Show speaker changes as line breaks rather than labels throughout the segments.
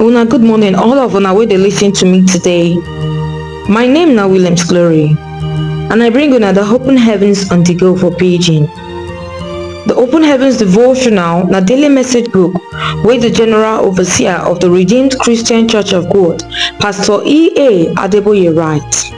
Una good morning, all of una wey dey listen to me today. My name na Williams Glory, and I bring una the open heavens on the go for Beijing. The Open Heavens Devotional na daily message book wey the General Overseer of the Redeemed Christian Church of God, Pastor E.A. Adeboye write.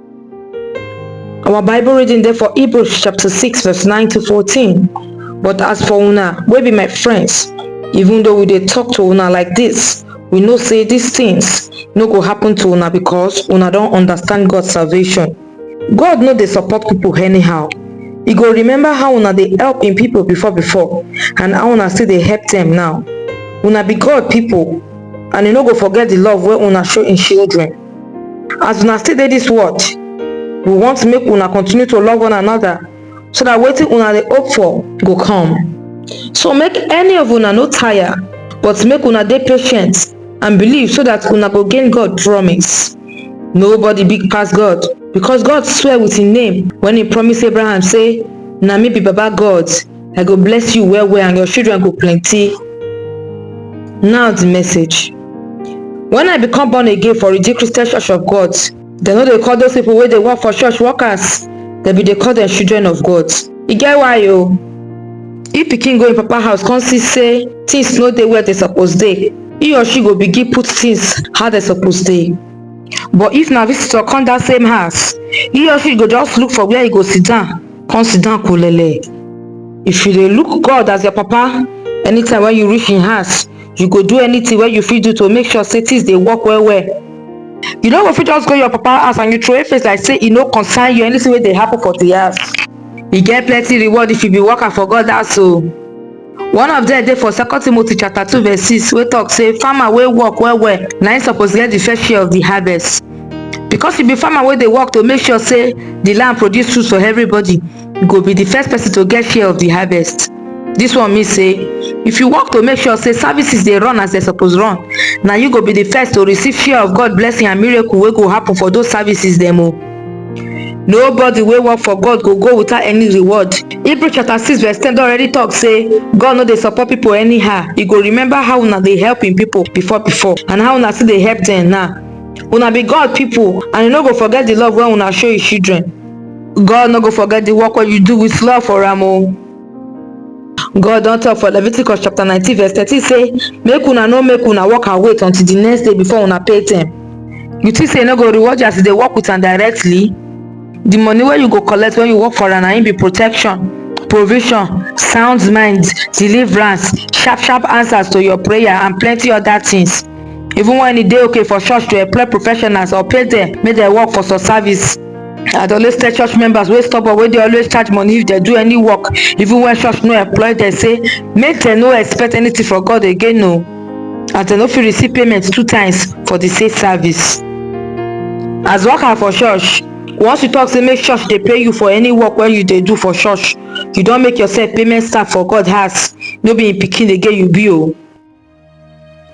our bible reading dey for hebrews chapter 6 verse 9 to 14 but as for una wey be my friends even though we dey talk to una like this we know say these things no go happen to una because una don understand god salvation god no dey support people anyhow e go remember how una dey help im people before before and how una still dey help them now una be god people and e no go forget the love wey una show im children as una still dey dis world we want make una continue to love one another so that wetin una dey hope for go come so make any of una no tire but make una dey patient and believe so that una go gain god promise nobody big pass god because god swear with him name when he promise abraham say na me be baba god I go bless you well well and your children go plenty. Now the message. When I become born again for Redeemed Christian Church of God, dem no dey call those people wey dey work for church workers, dem bin dey call dem children of God. E get why o. If pikin go im papa house come see say things no dey where dem suppose dey, he or she go begin put things how dem suppose dey. But if na visitor come that same house, he or she go just look for where e go sit down come sit down kulele if you dey look god as your papa anytime wey you reach him house you go do anything wey you fit do to make sure say things dey work well well you no go fit just go your papa house and you throway face like say e no concern you anything wey dey happen for the house e get plenty reward if you be worker for god house o One of dem dey for second Timothy chapter two verse six wey talk say farmer wey work well well na im suppose get the fair share of the harvest. Because you be farmer wey dey work to make sure say the land produce food for everybody, you go be the first person to get share of the harvest. This one mean say if you work to make sure say services dey run as dem suppose run, na you go be the first to receive share of God blessing and miracle wey go happen for those services dem o. Nobody wey work for God go go without any reward. Hebrew chapter 6 verse 10 don already talk say God no dey support people anyhow. He go remember how una dey help him people before before and how una still dey help them now. Una be God people and he no go forget the love wey una show his children. God no go forget the work wey you do with love for am o. God don talk for Leviticus chapter 19 verse 13 say, Make una no make una walk and wait until the next day before una pay them. You think say no go reward you as they work with am directly? The money where you go collect when you work for am na be protection, provision, sound mind, deliverance, sharp sharp answers to your prayer and plenty other things. Even when e dey okay for church to employ professionals or pay them, make dem work for some service. I dey always tell church members wey stubborn wey dey always charge money if dem do any work even when church no employ dem say make dem no expect anything from God again o as dem no fit receive payment two times for the same service. As worker for church, once you talk say make church dey pay you for any work wey you dey do for church, you don make yourself payment staff for God house, no be im pikin again you be o.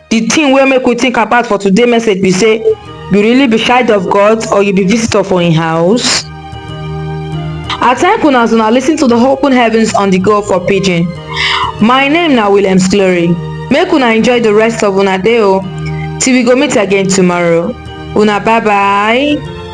The thing wey make we think about for today message be say you really be child of God or you be visitor for im house? I thank una as una listen to the open heavens on the go for pidgin. My name na Williams Glory. Make una enjoy the rest of una day o till we go meet again tomorrow. Una bye bye.